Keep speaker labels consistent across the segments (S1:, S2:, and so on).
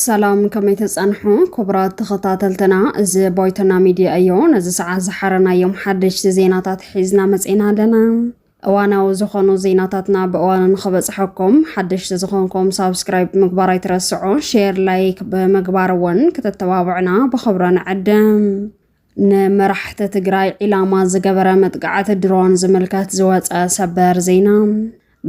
S1: ሰላም ከመይ ተፀንሑ ክቡራት ተኸታተልትና፣ እዚ ቦይቶና ሚድያ እዮ። ነዚ ሰዓት ዝሓረናዮም ሓደሽቲ ዜናታት ሒዝና መፂና ኣለና። እዋናዊ ዝኾኑ ዜናታትና ብእዋኑ ንኽበፅሐኩም ሓደሽቲ ዝኾንኩም ሳብስክራይብ ምግባር ኣይትረስዑ። ሼር ላይክ ብምግባር እውን ክተተባብዕና ብኽብረ ንዕድም። ንመራሕቲ ትግራይ ዒላማ ዝገበረ መጥቃዕቲ ድሮን ዝምልከት ዝወፀ ሰበር ዜና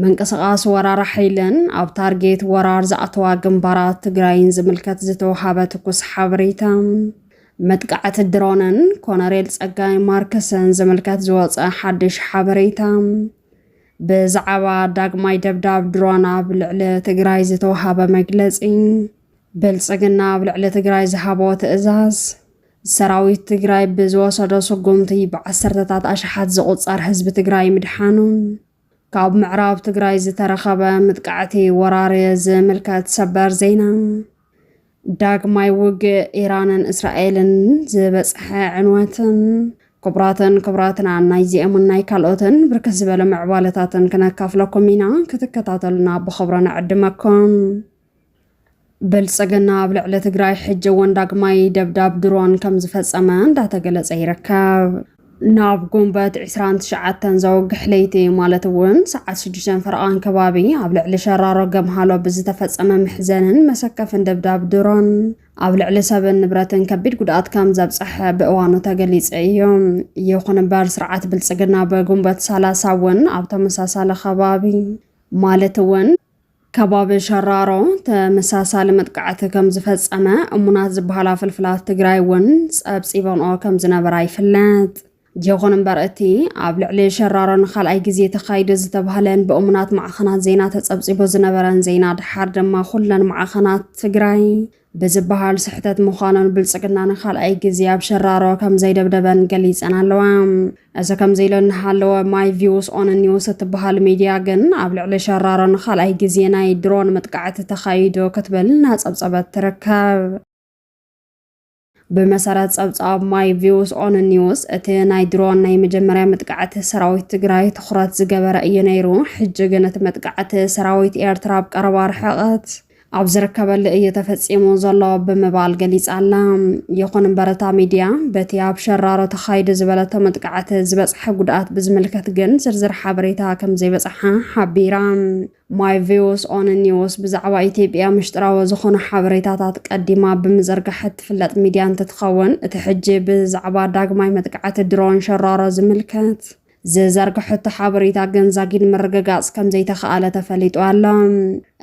S1: ምንቅስቓስ ወራር ሓይልን ኣብ ታርጌት ወራር ዝኣተዋ ግንባራት ትግራይን ዝምልከት ዝተውሃበ ትኩስ ሓበሬታ መጥቃዕቲ ድሮንን ኮነሬል ጸጋይ ማርክስን ዝምልከት ዝወፀ ሓድሽ ሓበሬታ ብዛዕባ ዳግማይ ደብዳብ ድሮን ኣብ ልዕሊ ትግራይ ዝተውሃበ መግለፂ ብልፅግና ኣብ ልዕሊ ትግራይ ዝሃቦ ትእዛዝ ሰራዊት ትግራይ ብዝወሰዶ ስጉምቲ ብዓሰርተታት ኣሽሓት ዝቑጸር ህዝቢ ትግራይ ምድሓኑ ካብ ምዕራብ ትግራይ ዝተረኸበ ምጥቃዕቲ ወራሪ ዝምልከት ሰበር ዜና ዳግማይ ውግእ ኢራንን እስራኤልን ዝበፅሐ ዕንወትን ክቡራትን ክቡራትና ናይዚኦምን ናይ ካልኦትን ብርክት ዝበለ ምዕባለታትን ክነካፍለኩም ኢና ክትከታተሉና ብኽብሮ ንዕድመኩም ብልፅግና ኣብ ልዕሊ ትግራይ ሕጂ እውን ዳግማይ ደብዳብ ድሮን ከም ዝፈፀመ እንዳተገለፀ ይርከብ። ናብ ጉንበት 29 ዘወግሕ ለይቲ ማለት እውን ሰዓት 6 ፈረቓን ከባቢ ኣብ ልዕሊ ሸራሮ ገምሃሎ ብዝተፈፀመ መሕዘንን መሰከፍን ደብዳብ ድሮን ኣብ ልዕሊ ሰብን ንብረትን ከቢድ ጉድኣት ከም ዘብፀሐ ብእዋኑ ተገሊፀ እዩ። ይኹን እምበር ስርዓት ብልፅግና ብጉንበት 30 እውን ኣብ ተመሳሳሊ ከባቢ ማለት እውን ከባቢ ሸራሮ ተመሳሳሊ መጥቃዕቲ ከም ዝፈጸመ እሙናት ዝበሃላ ፍልፍላት ትግራይ እውን ጸብጺበንኦ ከም ዝነበራ ይፍለጥ። ይኹን እምበር እቲ ኣብ ልዕሊ ሸራሮ ንካልኣይ ግዜ ተኻይደ ዝተባህለን ብእሙናት ማዕኸናት ዜና ተጸብጺቦ ዝነበረን ዜና ድሓር ድማ ኩለን ማዕኸናት ትግራይ ብዝበሃል ስሕተት ምዃኑን ብልጽግና ንካልኣይ ግዜ ኣብ ሸራሮ ከም ዘይደብደበን ገሊጸን ኣለዋ። እዚ ከምዚ ኢሉ እናሃለወ ማይ ቪውስ ኦን ኒውስ እትበሃል ሚድያ ግን ኣብ ልዕሊ ሸራሮ ንካልኣይ ግዜ ናይ ድሮን መጥቃዕቲ ተኻይዱ ክትብል እናጸብጸበት ትርከብ። ብመሰረት ጸብጻብ ማይ ቪውስ ኦን ኒውስ እቲ ናይ ድሮን ናይ መጀመርያ መጥቃዕቲ ሰራዊት ትግራይ ትኹረት ዝገበረ እዩ ነይሩ። ሕጂ ግን እቲ መጥቃዕቲ ሰራዊት ኤርትራ ኣብ ቀረባ ርሕቐት ኣብ ዝርከበሉ እዩ ተፈፂሙ ዘሎ ብምባል ገሊፃላ። ይኹን እምበር እታ ሚድያ በቲ ኣብ ሸራሮ ተኻይዱ ዝበለቶ መጥቃዕቲ ዝበፅሐ ጉድኣት ብዝምልከት ግን ዝርዝር ሓበሬታ ከምዘይበፅሓ ሓቢራ። ማይ ቪውስ ኦን ኒውስ ብዛዕባ ኢትዮጵያ ምሽጥራዊ ዝኾኑ ሓበሬታታት ቀዲማ ብምዝርጋሕ እትፍለጥ ሚድያ እንትትኸውን እቲ ሕጂ ብዛዕባ ዳግማይ መጥቃዕቲ ድሮን ሸራሮ ዝምልከት ዝዘርግሐቶ ሓበሬታ ግን ዛጊድ ምርግጋጽ ከምዘይተኸኣለ ተፈሊጡ ኣሎ።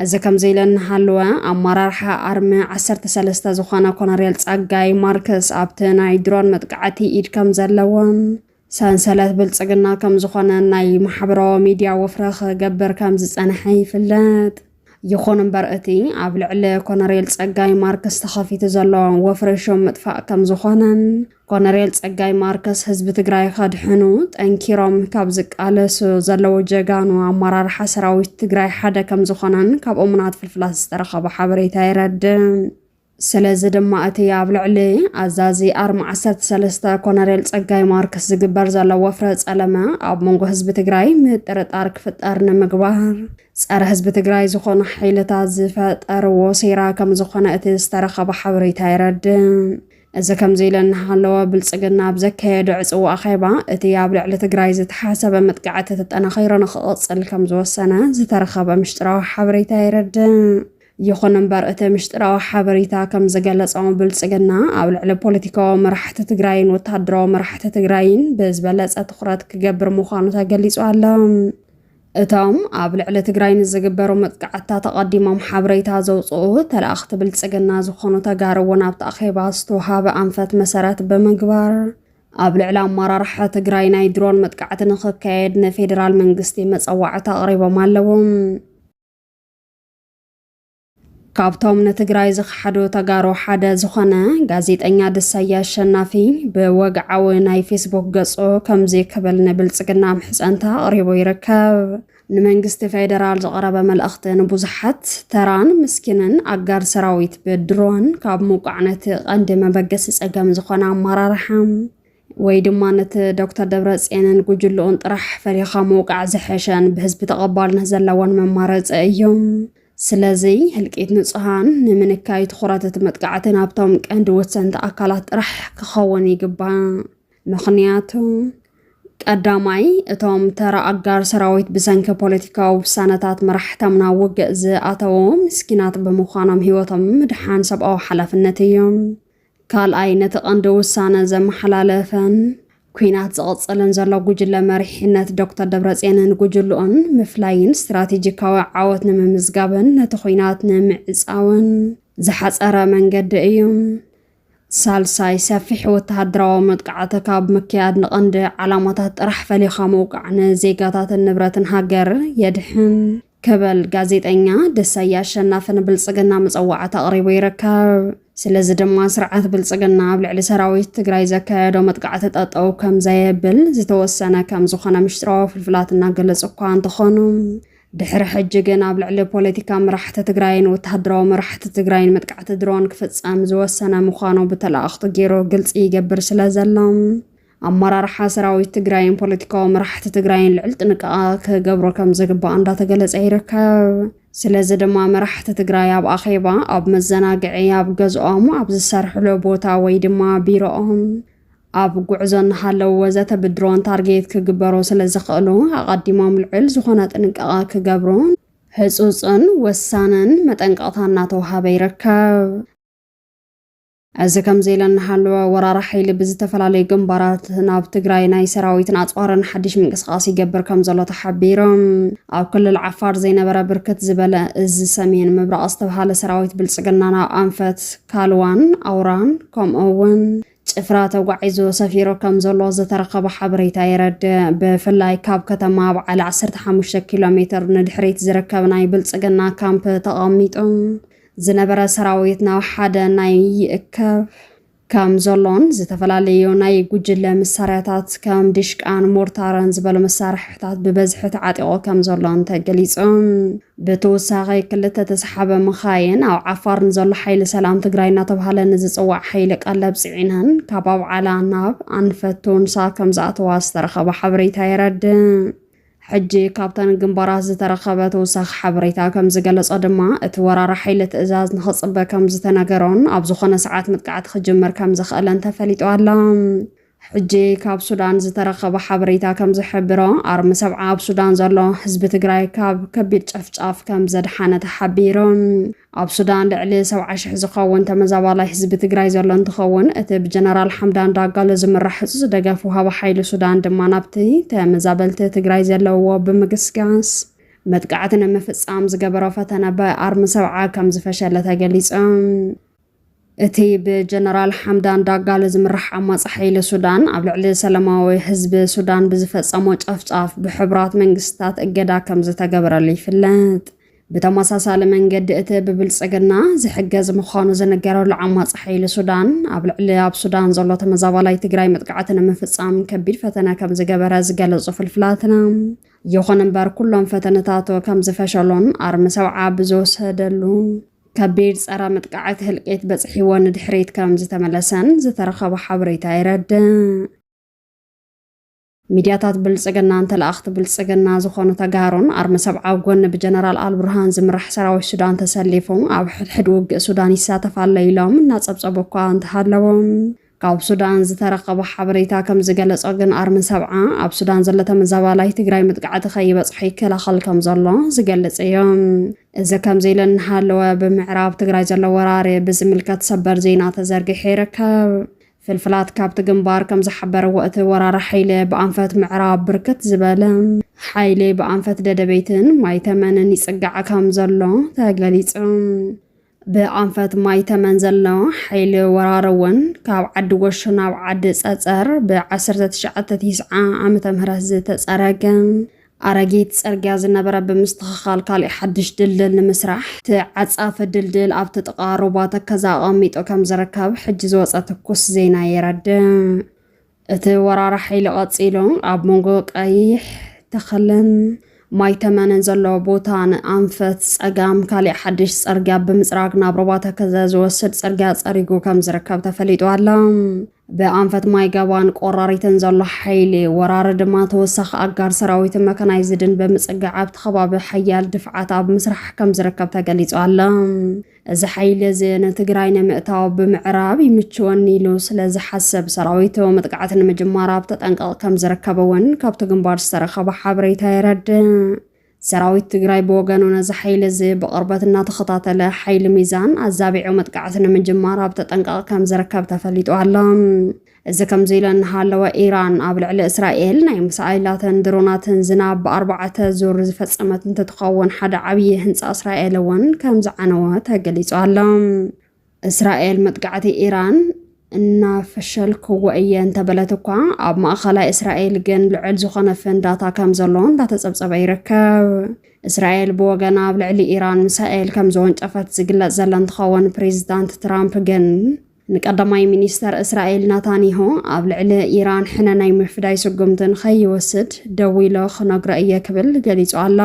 S1: እዚ ከምዘይለ እናሃለወ ኣመራርሓ ኣርሚ ዓሰርተ ሰለስተ ዝኾነ ኮነሬል ጸጋይ ማርክስ ኣብቲ ናይ ድሮን መጥቃዕቲ ኢድ ከም ዘለዎም ሰንሰለት ብልጽግና ከም ዝኾነ ናይ ማሕበራዊ ሚድያ ወፍረ ክገብር ከም ዝጸንሐ ይፍለጥ። ይኹን እምበር እቲ ኣብ ልዕሊ ኮነሬል ጸጋይ ማርክስ ተኸፊቱ ዘሎ ወፍሪ ሹም ምጥፋእ ከም ዝኾነን ኮነሬል ጸጋይ ማርከስ ህዝቢ ትግራይ ከድሕኑ ጠንኪሮም ካብ ዝቃለሱ ዘለዉ ጀጋኑ ኣመራርሓ ሰራዊት ትግራይ ሓደ ከም ዝኾነን ካብ እሙናት ፍልፍላት ዝተረኸበ ሓበሬታ የረድእ። ስለዚ ድማ እቲ ኣብ ልዕሊ ኣዛዚ ኣርማ ዓሰርተ ሰለስተ ኮነሬል ጸጋይ ማርክስ ዝግበር ዘሎ ወፍረ ጸለመ ኣብ መንጎ ህዝቢ ትግራይ ምጥርጣር ክፍጠር ንምግባር ጸረ ህዝቢ ትግራይ ዝኾኑ ሓይልታት ዝፈጠርዎ ሴራ ከም ዝኾነ እቲ ዝተረኸበ ሓበሬታ የረድእ። እዚ ከምዚ ኢለ እናሃለወ ብልፅግና ኣብ ዘካየዶ ዕፅዋ ኣኼባ እቲ ኣብ ልዕሊ ትግራይ ዝተሓሰበ መጥቃዕቲ ተጠናኺሩ ንክቕፅል ከም ዝወሰነ ዝተረኸበ ምሽጥራዊ ሓበሬታ የረድእ። ይኹን እምበር እቲ ምሽጥራዊ ሓበሬታ ከም ዝገለጾ ብልጽግና ኣብ ልዕሊ ፖለቲካዊ መራሕቲ ትግራይን ወታደራዊ መራሕቲ ትግራይን ብዝበለጸ ትኹረት ክገብር ምዃኑ ተገሊጹ ኣሎ። እቶም ኣብ ልዕሊ ትግራይ ንዝግበሩ መጥቃዕትታት ኣቐዲሞም ሓበሬታ ዘውፅኡ ተላእኽቲ ብልፅግና ዝኾኑ ተጋሩ እውን ኣብቲ ኣኼባ ዝተውሃበ ኣንፈት መሰረት ብምግባር ኣብ ልዕሊ ኣመራርሓ ትግራይ ናይ ድሮን መጥቃዕቲ ንክካየድ ንፌዴራል መንግስቲ መፀዋዕታ ኣቕሪቦም ኣለዎም። ካብቶም ንትግራይ ዝኸሓዱ ተጋሩ ሓደ ዝኾነ ጋዜጠኛ ድሳያ ኣሸናፊ ብወግዓዊ ናይ ፌስቡክ ገጹ ከምዚ ክብል ንብልጽግና ምሕጸንታ ኣቕሪቡ ይርከብ። ንመንግስቲ ፌደራል ዝቐረበ መልእኽቲ ንብዙሓት ተራን ምስኪንን ኣጋር ሰራዊት ብድሮን ካብ ምውቃዕ ነቲ ቀንዲ መበገሲ ጸገም ዝኾነ ኣመራርሓ ወይ ድማ ነቲ ዶክተር ደብረፅየንን ጉጅልኡን ጥራሕ ፈሪኻ ምውቃዕ ዝሐሸን ብህዝቢ ተቐባልነት ዘለዎን መማረፂ እዩ። ስለዚ ህልቂት ንፁሃን ንምንካይ ትኹረት እቲ መጥቃዕቲ ናብቶም ቀንዲ ወሰንቲ ኣካላት ጥራሕ ክኸውን ይግባእ። ምኽንያቱ ቀዳማይ እቶም ተራ ኣጋር ሰራዊት ብሰንኪ ፖለቲካዊ ውሳነታት መራሕቶም ናብ ውግእ ዝኣተዉ ምስኪናት ብምዃኖም ህይወቶም ምድሓን ሰብኣዊ ሓላፍነት እዩ። ካልኣይ ነቲ ቀንዲ ውሳነ ዘመሓላለፈን ኲናት ዝቕጽልን ዘሎ ጉጅለ መሪሕነት ዶክተር ደብረጽዮንን ጉጅልኡን ምፍላይን ስትራቴጂካዊ ዓወት ንምምዝጋብን ነቲ ኲናት ንምዕጻውን ዝሓጸረ መንገዲ እዩ። ሳልሳይ ሰፊሕ ወተሃደራዊ መጥቃዕቲ ካብ ምክያድ ንቐንዲ ዓላማታት ጥራሕ ፈሊኻ ምውቃዕ ንዜጋታትን ንብረትን ሃገር የድሕን። ክብል ጋዜጠኛ ደሳየ ኣሸናፊ ንብልፅግና መፀዋዕታ ኣቕሪቡ ይርከብ። ስለዚ ድማ ስርዓት ብልፅግና ኣብ ልዕሊ ሰራዊት ትግራይ ዘካየዶ መጥቃዕቲ ጠጠው ከምዘየብል ዝተወሰነ ከምዝኾነ ምሽጥራዊ ፍልፍላት እናገለፁ እኳ እንተኾኑ ድሕሪ ሕጂ ግን ኣብ ልዕሊ ፖለቲካ መራሕቲ ትግራይን ወተሃደራዊ መራሕቲ ትግራይን መጥቃዕቲ ድሮን ክፍፀም ዝወሰነ ምዃኑ ብተላእኽቱ ገይሩ ግልፂ ይገብር ስለ ዘሎ ኣመራርሓ ሰራዊት ትግራይን ፖለቲካዊ መራሕቲ ትግራይን ልዕል ጥንቃቐ ክገብሮ ከም ዝግባእ እንዳተገለጸ ይርከብ። ስለዚ ድማ መራሕቲ ትግራይ ኣብ ኣኼባ፣ ኣብ መዘናግዒ፣ ኣብ ገዝኦም፣ ኣብ ዝሰርሕሉ ቦታ ወይ ድማ ቢሮኦም፣ ኣብ ጉዕዞ እናሃለዉ ወዘተ ብድሮን ታርጌት ክግበሩ ስለ ዝኽእሉ ኣቐዲሞም ልዕል ዝኾነ ጥንቃቐ ክገብሩ ህጹጽን ወሳንን መጠንቀቕታ እናተውሃበ ይርከብ። እዚ ከምዚ ኢለ እናሃለወ ወራሪ ሓይሊ ብዝተፈላለዩ ግንባራት ናብ ትግራይ ናይ ሰራዊትን ኣፅዋርን ሓድሽ ምንቅስቓስ ይገብር ከም ዘሎ ተሓቢሮም ኣብ ክልል ዓፋር ዘይነበረ ብርክት ዝበለ እዚ ሰሜን ምብራቕ ዝተብሃለ ሰራዊት ብልፅግና ናብ ኣንፈት ካልዋን ኣውራን ከምኡ እውን ጭፍራ ተጓዒዙ ሰፊሩ ከም ዘሎ ዝተረኸበ ሓበሬታ የረድእ ብፍላይ ካብ ከተማ በዓል 15 ኪሎ ሜትር ንድሕሪት ዝርከብ ናይ ብልፅግና ካምፕ ተቐሚጡ ዝነበረ ሰራዊት ናብ ሓደ ናይ ይእከብ ከም ዘሎን ዝተፈላለዩ ናይ ጉጅለ መሳርያታት ከም ዲሽቃን ሞርታርን ዝበሉ መሳርሕታት ብበዝሒ ተዓጢቑ ከም ዘሎን ተገሊጹ። ብተወሳኺ ክልተ ተሰሓበ መኻይን ኣብ ዓፋር ንዘሎ ሓይሊ ሰላም ትግራይ እናተባህለ ንዝፅዋዕ ሓይሊ ቀለብ ፅዒነን ካብ ኣብዓላ ናብ ኣንፈት ቶንሳ ከም ዝኣተዋ ዝተረኸበ ሓበሬታ የረድእ። ሕጂ ካብተን ግንባራት ዝተረኸበ ተወሳኺ ሓበሬታ ከም ዝገለጾ ድማ፣ እቲ ወራሪ ሓይሊ ትእዛዝ ንኽጽበ ከም ዝተነገሮን ኣብ ዝኾነ ሰዓት መጥቃዕቲ ክጅምር ከም ዝኽእልን ተፈሊጡ ኣሎ። ሕጂ ካብ ሱዳን ዝተረኸበ ሓበሬታ ከም ዝሕብሮ፣ ኣርሚ ሰብዓ ኣብ ሱዳን ዘሎ ህዝቢ ትግራይ ካብ ከቢድ ጨፍጫፍ ከም ዘድሓነ ተሓቢሩ። ኣብ ሱዳን ልዕሊ ሰብዓ ሽሕ ዝኸውን ተመዛባላይ ህዝቢ ትግራይ ዘሎ እንትኸውን እቲ ብጀነራል ሓምዳን ዳጋሎ ዝምራሕ ዕዙዝ ደገፍ ውሃቢ ሓይሊ ሱዳን ድማ ናብቲ ተመዛበልቲ ትግራይ ዘለውዎ ብምግስጋስ መጥቃዕቲ ንምፍፃም ዝገበሮ ፈተነ ብኣርሚ ሰብዓ ከም ዝፈሸለ ተገሊፆም። እቲ ብጀነራል ሓምዳን ዳጋሎ ዝምራሕ ዓማጺ ሓይሊ ሱዳን ኣብ ልዕሊ ሰላማዊ ህዝቢ ሱዳን ብዝፈጸሞ ጨፍጫፍ ብሕቡራት መንግስታት እገዳ ከም ዝተገበረሉ ይፍለጥ። ብተመሳሳሊ መንገዲ እቲ ብብልጽግና ዝሕገዝ ምዃኑ ዝንገረሉ ዓማጺ ሓይሊ ሱዳን ኣብ ልዕሊ ኣብ ሱዳን ዘሎ ተመዛባላይ ትግራይ መጥቃዕቲ ንምፍጻም ከቢድ ፈተነ ከም ዝገበረ ዝገለጹ ፍልፍላትና ይኹን እምበር ኩሎም ፈተነታቱ ከም ዝፈሸሉን ኣርሚ ሰብዓ ብዝወሰደሉ ከቢድ ጸረ መጥቃዕቲ ህልቂት በጽሒዎ ንድሕሪት ከም ዝተመለሰን ዝተረኸበ ሓበሬታ የረድእ። ሚድያታት ብልጽግናን ተላእኽቲ ብልጽግና ዝኾኑ ተጋሩን ኣርሚ ሰብዓዊ ጎኒ ብጀነራል ኣልቡርሃን ዝምራሕ ሰራዊት ሱዳን ተሰሊፉ ኣብ ሕድሕድ ውግእ ሱዳን ይሳተፍ ኣሎ ኢሎም እናጸብጸቡ እኳ እንተሃለዎም ካብ ሱዳን ዝተረኸበ ሓበሬታ ከም ዝገለጾ ግን ኣርሚ ሰብዓ ኣብ ሱዳን ዘሎ ተመዛባላይ ትግራይ መጥቃዕቲ ከይበጽሖ ይከላኸል ከም ዘሎ ዝገልጽ እዩ። እዚ ከምዚ ኢሉ እናሃለወ ብምዕራብ ትግራይ ዘሎ ወራሪ ብዝምልከት ሰበር ዜና ተዘርጊሑ ይርከብ። ፍልፍላት ካብቲ ግንባር ከም ዝሓበረዎ እቲ ወራሪ ሓይሊ ብኣንፈት ምዕራብ ብርክት ዝበለ ሓይሊ ብኣንፈት ደደበይትን ማይተመንን ይጽጋዕ ከም ዘሎ ተገሊጹ። ብኣንፈት ማይ ተመን ዘሎ ሓይሊ ወራር እውን ካብ ዓዲ ጎሹ ናብ ዓዲ ጸጸር ብ1990 ዓመተ ምህረት ዝተጸረገ ኣረጊት ጽርግያ ዝነበረ ብምስትኽኻል ካሊእ ሓድሽ ድልድል ንምስራሕ ተዓጻፊ ድልድል ኣብቲ ጥቓ ሩባ ተከዘ ኣቐሚጡ ከም ዝርከብ ሕጂ ዝወጸ ትኩስ ዜና የረድእ። እቲ ወራሪ ሓይሊ ቀፂሉ ኣብ መንጎ ቀይሕ ተኸለን ማይ ተመንን ዘሎ ቦታ ንኣንፈት ፀጋም ካሊእ ሓድሽ ፀርግያ ብምፅራግ ናብ ሩባ ተከዘ ዝወስድ ፅርግያ ፀሪጉ ከም ዝርከብ ተፈሊጡ ኣሎ። ብኣንፈት ማይ ገባን ቆራሪትን ዘሎ ሓይሊ ወራሪ ድማ ተወሳኺ ኣጋር ሰራዊትን መካናይዝድን ብምፅጋዕ ኣብቲ ከባቢ ሓያል ድፍዓት ኣብ ምስራሕ ከም ዝርከብ ተገሊፁ ኣሎ። እዚ ሓይሊ እዚ ንትግራይ ንምእታው ብምዕራብ ይምችወኒ ኢሉ ስለ ዝሓሰብ ሰራዊቱ መጥቃዕቲ ንምጅማር ኣብ ተጠንቀቕ ከም ዝርከብ እውን ካብቲ ግንባር ዝተረኸበ ሓበሬታ የረድእ። ሰራዊት ትግራይ ብወገኑ ነዚ ሓይሊ እዚ ብቕርበት እናተኸታተለ ሓይሊ ሚዛን ኣዛቢዑ መጥቃዕቲ ንምጅማር ኣብ ተጠንቀቕ ከም ዝርከብ ተፈሊጡ ኣሎ። እዚ ከምዚ ኢሉ እናሃለወ ኢራን ኣብ ልዕሊ እስራኤል ናይ ምሳይላትን ድሮናትን ዝናብ ብኣርባዕተ ዙር ዝፈጸመት እንትትኸውን ሓደ ዓብዪ ህንፃ እስራኤል እውን ከም ዝዓነወ ተገሊጹ ኣሎ። እስራኤል መጥቃዕቲ ኢራን እናፈሸልክዎ እየ እንተበለት እኳ ኣብ ማእኸላይ እስራኤል ግን ልዑል ዝኾነ ፍንዳታ ከም ዘሎ እንዳተፀብፀበ ይርከብ። እስራኤል ብወገና ኣብ ልዕሊ ኢራን ሚሳኤል ከም ዘወንጨፈት ዝግለጽ ዘለ እንትኸውን ፕሬዚዳንት ትራምፕ ግን ንቀዳማይ ሚኒስተር እስራኤል ናታንያሁ ኣብ ልዕሊ ኢራን ሕነ ናይ ምፍዳይ ስጉምቲ ንኸይወስድ ደው ኢሎ ክነግሮ እየ ክብል ገሊጹ ኣሎ።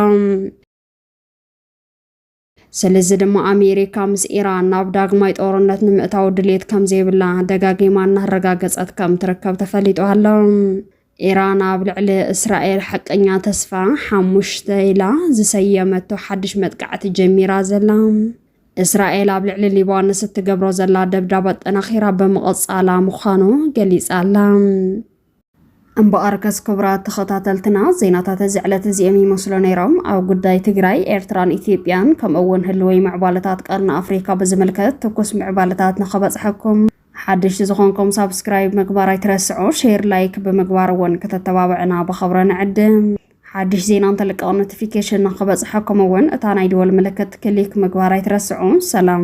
S1: ስለዚ ድማ ኣሜሪካ ምስ ኢራን ናብ ዳግማይ ጦርነት ንምእታው ድሌት ከም ዘይብላ ደጋጊማ እናረጋገጸት ከም ትርከብ ተፈሊጡ ኣሎ። ኢራን ኣብ ልዕሊ እስራኤል ሓቀኛ ተስፋ ሓሙሽተ ኢላ ዝሰየመቶ ሓድሽ መጥቃዕቲ ጀሚራ ዘላ እስራኤል ኣብ ልዕሊ ሊባኖስ እትገብሮ ዘላ ደብዳብ ኣጠናኺራ ብምቕጻላ ምዃኑ ገሊጻ ኣላ። እምበኣር ከስ ክቡራት ተኸታተልትና ዜናታት እዚ ዕለት እዚኦም ይመስሉ ነይሮም። ኣብ ጉዳይ ትግራይ፣ ኤርትራን ኢትዮጵያን ከምኡ'ውን ህልወይ ምዕባለታት ቀርኒ ኣፍሪካ ብዝምልከት ትኩስ ምዕባለታት ንኸበጽሐኩም ሓደሽቲ ዝኾንኩም ሳብስክራይብ ምግባር ኣይትረስዑ፣ ሼር ላይክ ብምግባር እውን ክተተባብዕና ብኸብረ ንዕድም። ሓድሽ ዜና እንተልቀቕ ኖቲፊኬሽን ንክበፅሐኩም እውን እታ ናይ ደወል ምልክት ክሊክ ምግባር ኣይትረስዑ። ሰላም